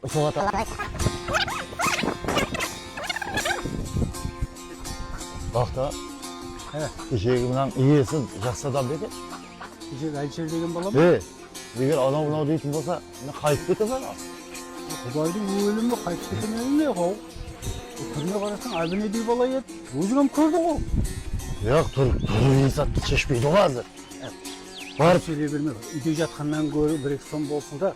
Ushıl otı qays? Baxta. He. Keshegi mınan iyesi jaqsı adam bedi. Keshegi Alsher degen bala ma? He. Eger anau mınau deytin bolsa, mine qayıp kete ma? Qubaydıń ólimi qayıp kete me bilmey aq au. Túrine qarasań abinedey bala edi. Óziń ham kórdiń ǵo. Yoq, tur, tur insaptı sheshpeydi ǵo házir. Barıp. Sóyley berme, úyde jatqannan góri bir eki som bolsın da.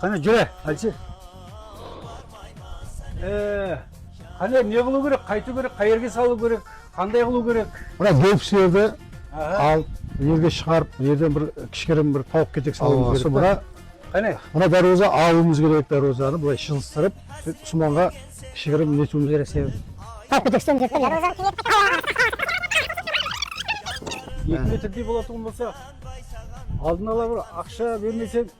Qáne júre, Alsir. E, qáne ne qılıw kerek, qaytıw kerek, qayerge salıw kerek, qanday qılıw kerek? Mına gópslerdi al, mına jerge shıǵarıp, mına jerden bir kishkerem bir tawıq ketek salıwımız kerek. Mına, qáne. Mına dárwaza alıwımız kerek, dárwazanı bılay shılistırıp, sóytip usmanǵa kishkerem netiwimiz kerek sebep. Tawıq ketekshiden berip ber, dárwazanı keńeytip. Eki metrdiy bolatuǵın bolsa, aldın ala bir aqsha bermeseń.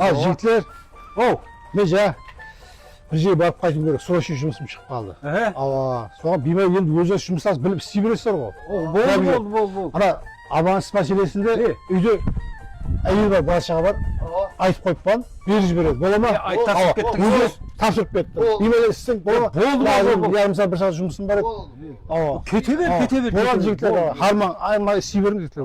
Al jigitler ow men jańa bir jerge barıp qaytıwım kerek srocный jumısım shıǵıp qaldı awa soǵan biymári endi ózlari jumıslasıp bilip isley beresizler ǵo boldı boldı boldı boldı ana abonentst máselesinde úyde áyel bar bala shaǵa bar aytıp qoyıp qoǵan berip jiberedi bola ma topsırıp kettiniz ǵo topsırıp kettim biymári isleseń bola ma boldı boldı boldı yaǵnıy misal bir saǵat jumısım bar edi awa kete ber kete ber boladı jigitler harmań aymay isley beriń jigitler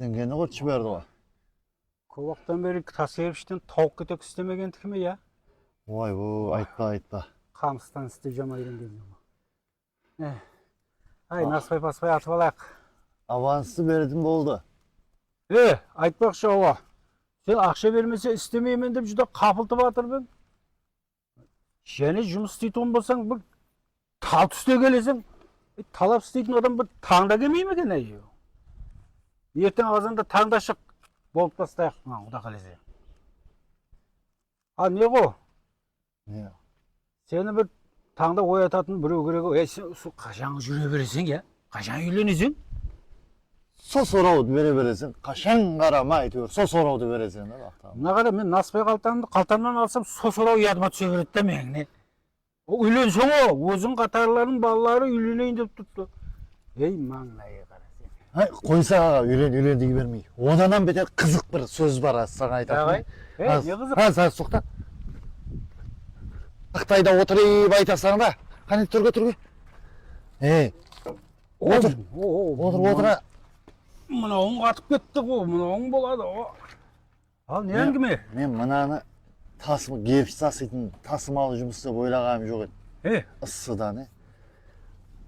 Dingeni qurıt jiberdi ǵoy. Kóp waqıttan beri taslayıp ishten tawıq ketek istemegeniki me ya? Woy u aytpa aytpa. Qamıstan isti jamayıran kezi bu. Eh. Ay naspay paspay atıp alayıq. Avanstı beretin boldı. Eh aytpaqshı awa. Sen aqsha bermese istemeymen dep júdá qapıltıp atırıp eń. Jáne jumıs isteytuǵın bolsań, bir tal túste keleseń. Talap isteytin adam bir tańda kelmey me eken, áy? Erteń azanda tańda shıq, bolıp tastayıq mınan, quda qálese. A, Neǵo? Ne? Seni bir tańda oyatatın birew kerek-aw. Áy, sen usı qashanǵı júre bereseń, ya? Qashan úyleneseń? Sol sorawdı bere bereseń qashan qarama áytewir sol sorawdı bereseń da baqıt aǵa. Mına qara men naspay qaltamdı qaltamnan alsam sol soraw yadıma túse beredi da meniń ne ol úylenseń ǵo óziń qatarılarınıń balaları úyleneyin dep turıptı ey mańlayǵa qara sen. Háy qoysa aǵa úylen úylen dey bermey odanam beter qızıq bir sóz bar házir saǵan aytatınım ne qızıq házir házir toqta ıqtayda otırıp aytasań da qáne túrge túrge ey Otır, otır, otıra. Mınawıń qatıp ketti ǵo, mınawıń boladı ǵo. Al, ne áńgime? Men mınanı tasım, gerpis tasıytın tasımalı jumıs dep oylaǵanım joq edi. E? Issıdan, e.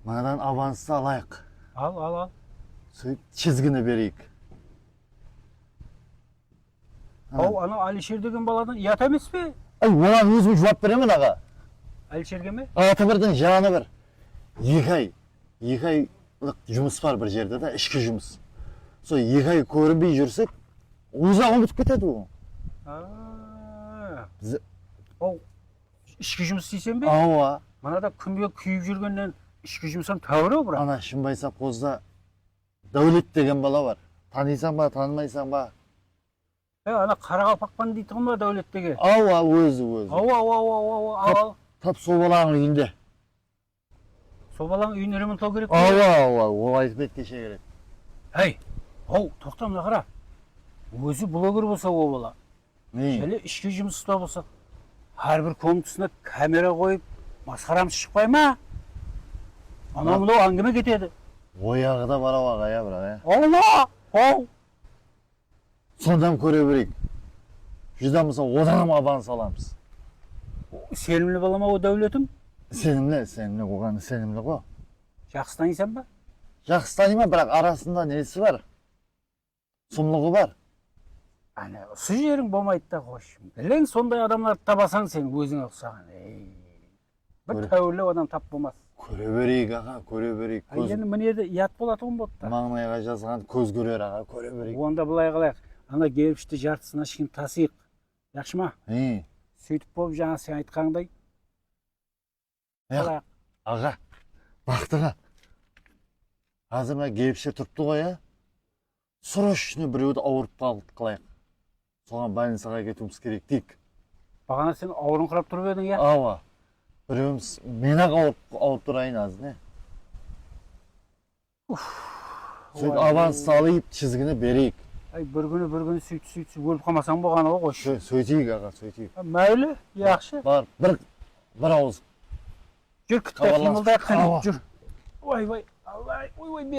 Mınadan abanıstı alayıq. Al, al, al. Sóytip, chizgini bereyik. Hau anau Alisher degen baladan uyat emespe? Ay oǵan ózim juwap beremen aǵa. Alisherge me? Atı birdiń janı bir. Eki ay, eki aylıq jumıs bar bir jerde da, ishki jumıs. Sol eki ay kórinbey júrsek, ózi-aq umıtıp ketedi oǵan. Biz Hau ishki jumıs deyseń be? Awa. Mınada kúnde kúyip júrgennen ishki jumısam táuir-ау biraq. Ana Shımbay sovxozda. Dáwlet degen bala bar. Tanıysań ba, tanımaysań ba. He, ana Qaraqalpaqpan deytuǵın ba Dáwlet dege? Awa, ózi, ózi. Awa, awa, awa, awa, awa, al, al. Tap sol balaǵıń úyinde. Sol balaǵıń úyin remontlaw kerek pe? Awa, awa, ol aytıp edi keshe kerek. Háy, haw, toqta mına qara. Ózi bloger bolsa o bala. Jáne ishki jumısta bolsaq, hár bir komntasına kamera qoyıp, masqaramız shıqpay ma? Anaw-mınaw áńgime ketedi. Oyaǵı da bar-aw aǵa ya biraq ya. Alma! Haw! Sondan kóre bereyik. Judam bolsa odan ham aban salamız. Isenimli bala ma o Dáwletiń? Isenimli, isenimli. Oǵan isenimli ǵo. Jaqsı tanıysan ba? Jaqsı tanıyman, biraq arasında nesi bar. Sumlıǵı bar. Áne usı jeriń bolmaydı da xosh. Beleń sonday adamlardı tabasań sen ózińe uqsaǵan. Bir táuirleu adam tap bolmas. Kóre bereyik aǵa, kóre bereyik. Há endi mine de uyat bolatuǵın boptı. Mańlayǵa jazǵan kóz kórer aǵa, kóre bereyik. Onda bılay qılayıq, ana gerpishti jartısına sheykin tasıyıq, jaqshı ma? Hıy. Sóytip bolıp jańa sen aytqanıńday. Alayıq. Aǵa, baxtıǵa. Házir mına kebishe turıptı ǵoy, a? Srochno birewdi awırıp qaldı qılayıq. Soǵan bolnicaǵa áketiwimiz kerek deyik. Baǵana sen awırıńqırap turıp ediń, ya? Awa. Birewimiz men-aq awırıp turayın házir, ne? Sóyt avans salıp chizgini bereyik. Ay bir kuni bir kuni suytip suytip ólip qalmasań boǵanı ǵo qoshshe. Sóyteyik aǵa sóyteyik. Máyli yaqshı. Bar bir bir awız. Júr kitpe qıymıldayıq qáne júr. Oy boy Allay oy boy.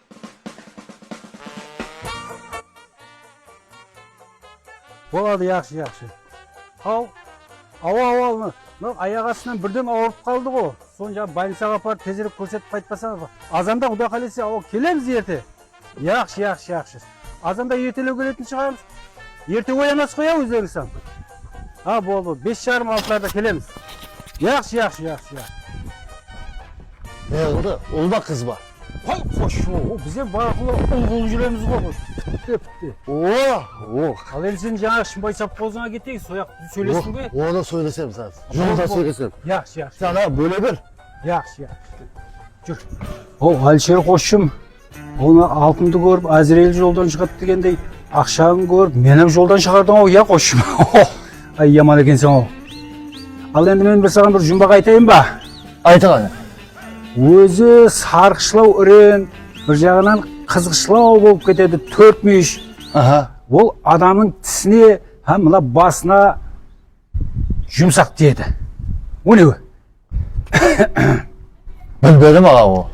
Boladı jaqsı jaqsı Al awa awa mınau ayaq astınan birden auırıp qaldı ǵo sonı jaǵı bolnicaǵa aparıp tezirek kórsetip qaytpasańız azanda quda qálese awa kelemiz erte jaqsı jaqsı jaqsı. Azanda ertelew keletin shıǵar. Erte oyanasız qoy a ózlerińizsam. A boldı boldı bes jarım altılarda kelemiz. Jaqsı jaqsı jaqsı jaqsı. Ne qıldı ul ba qız ba. Qoy qosh oho bizem barqulla ul bolıp júremiz ǵoy qosh pitte pitte. Oa o. Al endi sen jańaǵı shımbay sovxozıńa keteyin soyaq sóylesiwge. Onı sóylesemiz azır jolda sóylesemiz. Jaqsı jaqsı. Sen a bóle ber. Jaqsı jaqsı. Júr. Hau Alisher qosshım Onı altındı kórip Ázirel joldan shıǵadı degendey, aqshaǵın kórip menam joldan shıǵardıń-aw, iya qosshım? Ox, ay yaman ekenseń-aw. Al endi men bir saǵan bir jumbaq aytayın ba? Ayt ǵane. Ózi sarǵıshlaw iren, bir jaǵınan qızǵıshlaw bolıp ketedi, tórtmúyish. Aha. Ol adamnıń tisine hám mına basına. Jumsaq tiyedi. Ónewi. Bilmedim aǵa ol.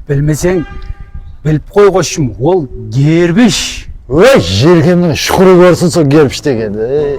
Bilmeseń bilip qoy qoshım ol gerbish. Óy jerkemniń shuqırı korsın sol gerbish degendi.